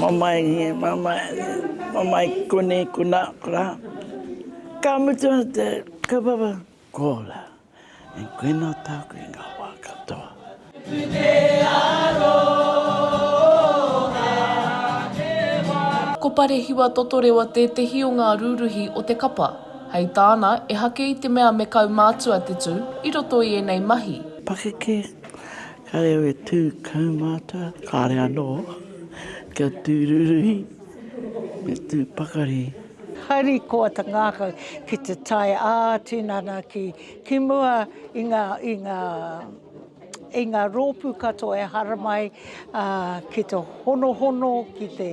Mamae nge, mamae, mamae kune kuna kura, ka mutu atu te kaupapa, ko la, e koena taku i nga wa katoa. Ko Parehiwa Totorewa tētehi o ngā rūruhi o te kapa. Hei tāna, ehake i te mea me kaumātua te tū i roto i ēnei mahi. Pakeke, Ka reo e tū kaumātua, kāre anō kia tū ruruhi me tū pakari. Harikoa te ngākau ki te tae ā-tinana ki mua i ngā rōpū katoa e haramai ki te honohono, ki te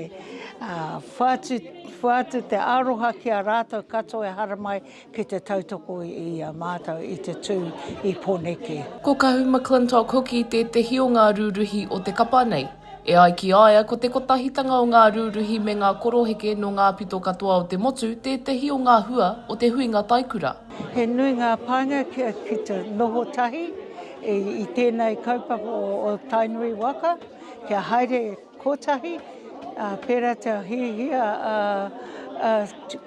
whātu te aroha ki a rātou katoa e haramai Ki te tautoko i a mātou i te tū i Poneke. Ko Kahu McClintock hoki tētehi o ngā rūruhi o te kapa nei. E ai ki a ia ko te kotahitanga o ngā rūruhi me ngā koroheke nō ngā pito katoa o te motu tētehi o ngā hua o te huinga taikura. He nui ngā pānga kia kite noho tahi i tēnei kaupapa o Tainui waka kia haere. Kotahi, ā, pērā te hiahia a, a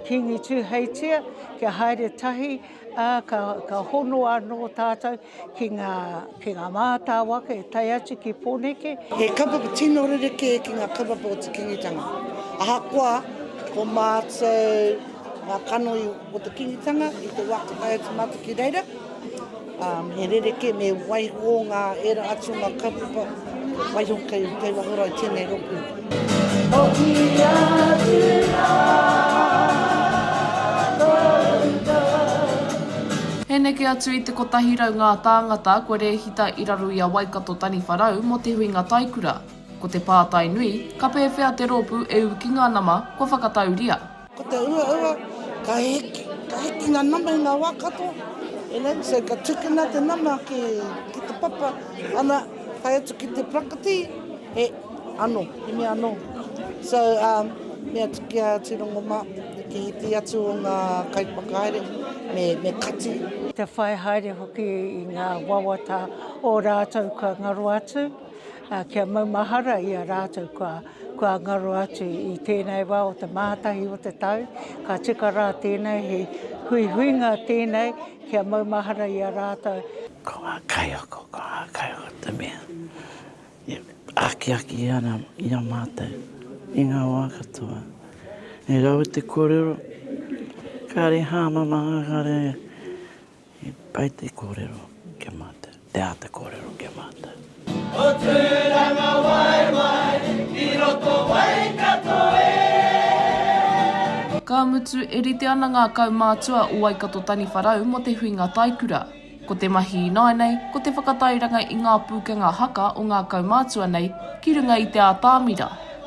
Kīngi Tūheitia kia haere tahi, ā, ka, ka hono anō tātou ki ngā, ki ngā mātāwaka e tae atu ki Pōneke. He kapa tino rerekē ki ngā kaupapa o te Kīngitanga. Ahakoa ko mātou ngā kanohi Ko te Kingitanga i te wā whakaae atu mātou ki reira, he rerekē me waiho ngā ērā atu o ngā kaupapa waiho kei Te Waihora i tēnei rōpū. Hoki atu rā tōu tau. He neke atu i te kotahi rau ngā tāngata kua rēhita i raro i a Waikato taniwha rau mō te huinga taikura. Ko te pātai nui, ka pēwhea te rōpū e ū ki ngā nama kua whakatauria? Ko te uaua, ka hiki, ka hiki ngā nama i ngā wā katoa, you know, so ka tukuna te nama ki te papa, ana, tae atu ki te prakati, he ano, he mea ano. So, um, me atu ki a Tirongoma, ki te atu o ngā kaiwhakahaere, me, me kati. Te whai haere hoki i ngā wawata o rātou kua ngaro atu. Ā, kia maumahara i a rātou kua, kua ngaro atu i tēnei wā o te mātahi o te tau, ka tika rā tēnei, he huihuinga tēnei kia maumahara i a rātou. Ko ngā kaiako, ko ngā kaiako te mea e akiaki ana i a mātou i ngā wā katoa. He rawe te kōrero, kāre hāmama, kāre. He pai te kōrero ki a mātou, te āta kōrero ki a mātou. O Tūranga waewae i roto Waikato e. Ka mutu, e rite ana ngā kaumātua o Waikato Taniwharau mō te huinga taikura. Ko te mahi ināianei, ko te whakatairanga i ngā pūkenga haka o ngā kaumātua nei ki runga i te atamira,